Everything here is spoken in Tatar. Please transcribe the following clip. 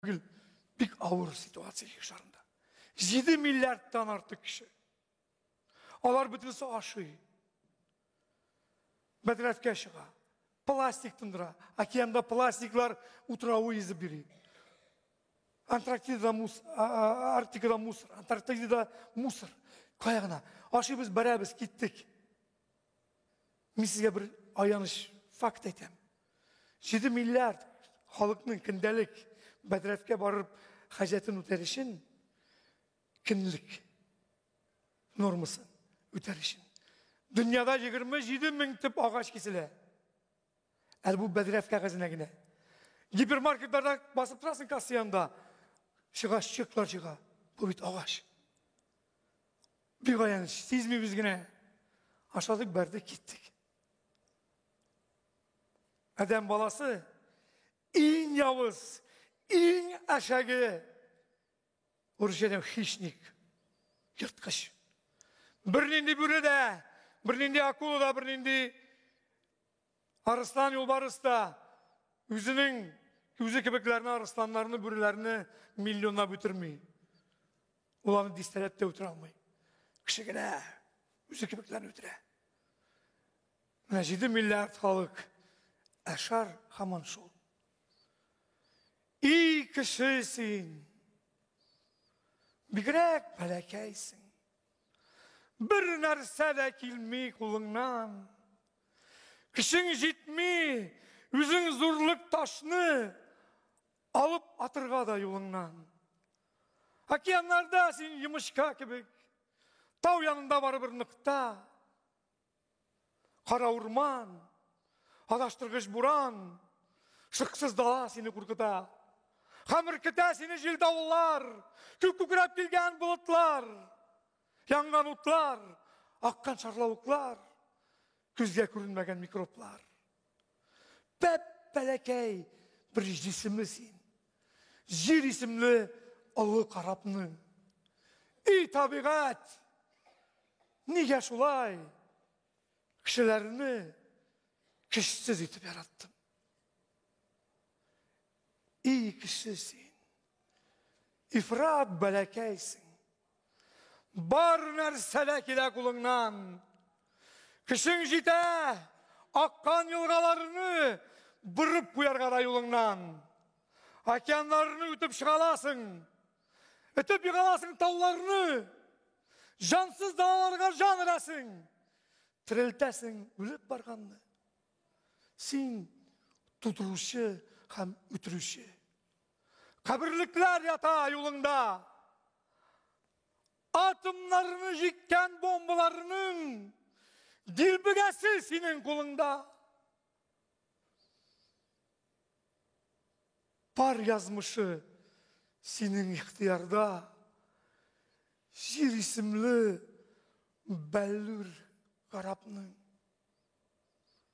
Гел бик авыр ситуация ел шарында. 7 миллиардтан артык кеше. Алар бөтенесе ашый. Бәдрәфкә чыга. Пластик тындыра. Океанда пластиклар утравы изеп бери. Антарктидада мусор, Арктикада мусор, Антарктидада мусор. Кая гына. Ашыйбыз, барабыз, киттек. Мин сезгә бер аяныч факт әйтәм. 7 миллиард халыкның көндәлек бәдрәфкә барып хаҗәтен үтәр өчен көнлек нормасын үтәр өчен. Дөньяда 27 мең төп агач киселә. Әле бу бәдрәф кәгазенә генә. Гипермаркетларда басып торасың касса янында. Чыга чыклар чыга. Бу бит агач. Бик аяныч, сизмибез генә. Ашадык, бәрдек, киттек. Адәм баласы иң явыз, иң әшәге урысчадан хищник, ерткыч. Бернинди бүре дә, бернинди акула да, бернинди Арыслан юлбарыс та үзенең үзе кебекләрне арысланнарны, бүреләрне миллионлап үтерми. Ул аны дистәләп тә үтерә алмый. Кеше генә үзе кебекләрне үтерә. Менә 7 миллиард халык әшар хаман шул. И кеше син! Бигрәк бәләкәйсең. Бер нәрсә дә килми кулыңнан. Көчең җитми, үзең зурлык ташны алып атырга да юлыңнан. Океаннарда син йомычка кебек, тау янында барыбер ныкта. Кара урман, адаштыргыч буран, шыксыз дала сине куркыта. Хамыр көтә сине җил давыллар, күк күкрәп килгән болытлар. Янган утлар, аккан шарлавыклар, күзгә күренмәгән микроблар. Пәп бәләкәй бер җисемле син. Җир исемле олы карапның. И табигать! Нигә шулай? Кешеләрне кешсез итеп яраттым. И кеше син. Ифрат бәләкәйсең. Бар нәрсә дә килә кулыңнан. Көчең җитә, аккан елгаларны борып куярга да юлыңнан. Океаннарны үтеп чыгаласың, үтеп югаласың тауларны. Җансыз далаларга җан өрәсең, терелтәсең үлеп барганны. Син тудыручы һәм үтерүче. Каберлекләр ята юлыңда. Атомнарны җиккән бомбаларның дилбегәсе синең кулыңда. Пар язмышы синең ихтыярда. Җир исемле бәллүр гарапның.